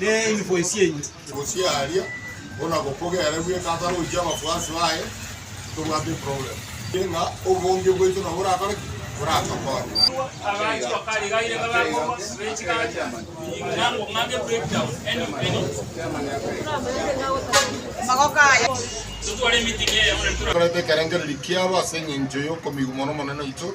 ne enyuboe ciaino. Gose aria bona gokogere bweka atarochie abakuasi baye tobwate problem ere ng'a obonge bwaito nabo borakore ki? Boratokonye. Tokorete ekerengererio kiabo ase engencho y'okomigwa mono Omonene oito.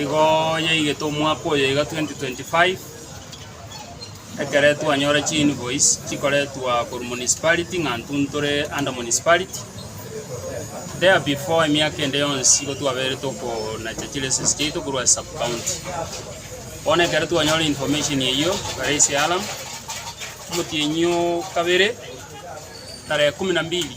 Igo yaigete omwaka oyo iga 2025, ekere twanyora chi invoice chikoretwa korwa municipality ng'a intwe ntore under municipality. There before emiaka ende yonsi igo twabeire tokonacha chi lessons chiaito korwa ase sub county. Bono ekero twanyora information eyio are ase eAlam, omotienyi o kabere tarehe kumi na mbili.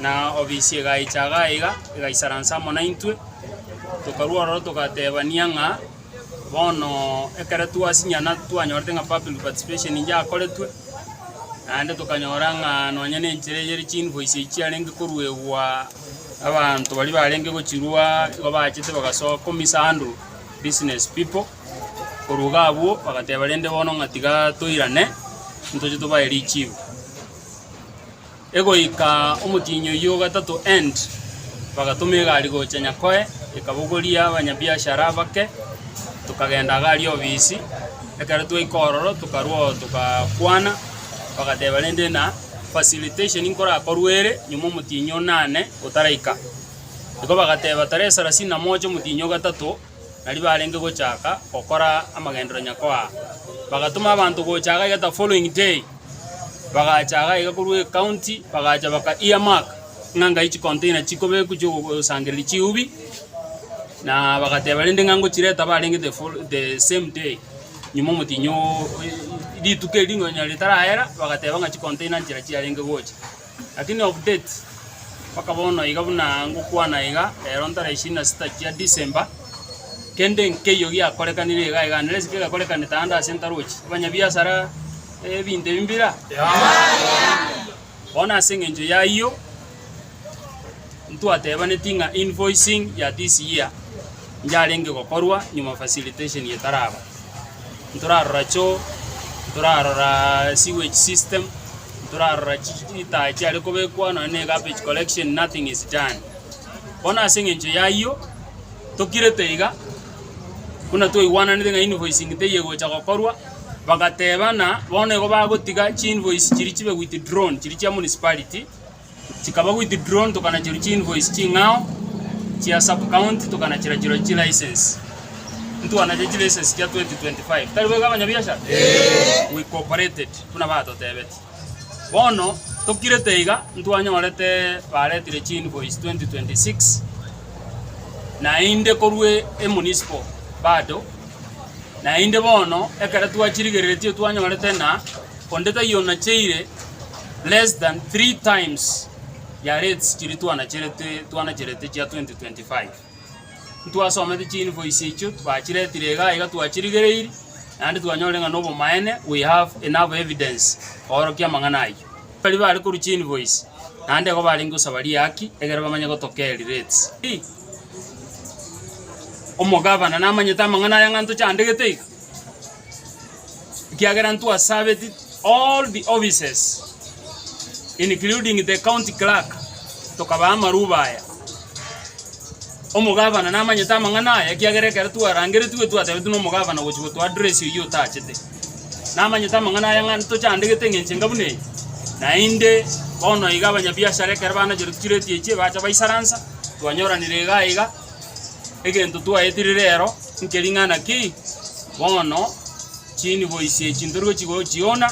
Na obisi egaicha iga iga, egaisaransa amo naintwe, tokarua ororo togatebania ng'a bono ekero twasinyana twanyorete ng'a public participation inche akoretwe, naende tokanyora ng'a nonye na enchera eye ere chi-invoice echi chiarenge koruegwa abanto baria barenge gochirua igo bachete bagasoa komisandwa business people, korwa iga abwo bagateba rende bono ng'a tiga toirane, ntoche tobae richibu. Egoika omotienyi oyio o gatato End, bagatoma egari gocha Nyakoe, ekabogoria abanyabiashara abake, tokagenda iga aria obisi. Ekero twaika ororo tokarwa oo togakwana, bagateba rende na facilitation nkorakorwe ere nyuma omotienyi o nane otaraika. Igo bagateba tarehe sarasini na moja omotienyi o gatato. nario barenge gochaka gokora amagenderero Nyakoa. Bagatoma abanto gocha iga iga the following day, bagacha iga iga korwa ecounty, bagacha baka ear mark ng'a ngai chicontainer chikobekwa chiogosangereria chiubi, na bagateba rende ng'a ngochireta barenge the follo the same day, nyuma omotienyi oo rituko erio nonya ritarayera, bagateba ng'a chicontainer nchera chiarenge gocha. Lakini of date, mpaka bono iga buna ngokwana iga, rero ntarehe ishirini na sita chia December, kende nkeiyo giakorekanire iga iga. Nere ase kegakorekanete ande ase ntaroche abanyabiasara ebinto ebi mbira? Bono ase engencho y'ayio. ntwatebaneti ng'a invoicing ya this year yarenge gokorwa nyuma facilitation etaraba. Ntorarora choo, ntorarora sewage system, ntorarora chi chitaa chiare kobekwa nonye ne garbage collection nothing is done. Bono ase eng'encho yayio, tokirete iga buna twaigwananete ng'a invoicing teiyo egocha gokorwa, bagateba ng'a bono igo bagotiga chi invoice chiria chibe withdrawn chiria chia municipality. Chikaba withdrawn tokanachirwa chiinvoice ching'ao chia sub county tokanachirachirwa chilicense. Ntwanachire chilicense chia 2025. Tari boigo abanyabiashara? Eeh. We cooperated buna batotebeti. Bono tokirete iga ntwanyorete baretire chiinvoice 2026 naende korwa emunicipal bado naende bono ekero twachirigereretie twanyorete ng'a Onde taiyo onacheire less than three times ya rates chiria twanacherete twanacherete chia 2025. Ntwasomete chi invoice echio bachiretire iga iga twachirigereiri naende twanyorire ng'a nobomaene we have enough evidence koorokia amang'ana ayio. Baria bare korwa chi invoice naende igo barenge gosaba riaki egere bamanye gotoka eri rates. Omogabana namanyete amang'ana aya ng'a ntochandegete iga. ekiagera ntwa served all the offices including the county clerk tokabaa amaruba aya. Omogavana namanyete amang'ana aya ekiagera ekero twarangeretigwe twatebetigwe na omogavana gochi gotoa address oyio otachete. Namanyete amang'ana aya ng'a ntochandegete eng'encho enga buna eye. Naende bono iga abanyabiashara ekero banacherwa tochireti echio bacha baisaransa twanyoranire iga iga. Egento twaetirire rero nkering'ana ki? Bono chinibo ici echi ntorigochia gochiona,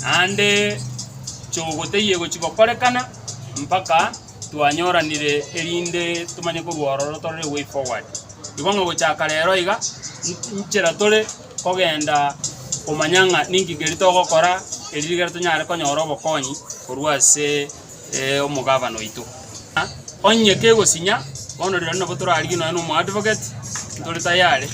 naende chogoteyia gochia gokorekana mpaka twanyoranire erinde tomanye korwa ororo tore the way forward. Igo ng'a gochaka rero iga, n- nchera tore kogenda komanya ng'a ninki keria togokora, erio rigere tonyare konyora obokonyi korwa ase. omogabane oito. Onye kegosinya, bono rirorio nabo torarigie nonye na omoadvocate, ntore tayare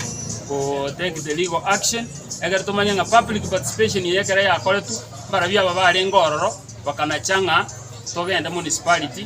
go take the legal action, ekero tomanye ng'a public participation eye ekero yakoretwe, mbarabwo aba barenge ororo bakanacha ng'a togende municipality.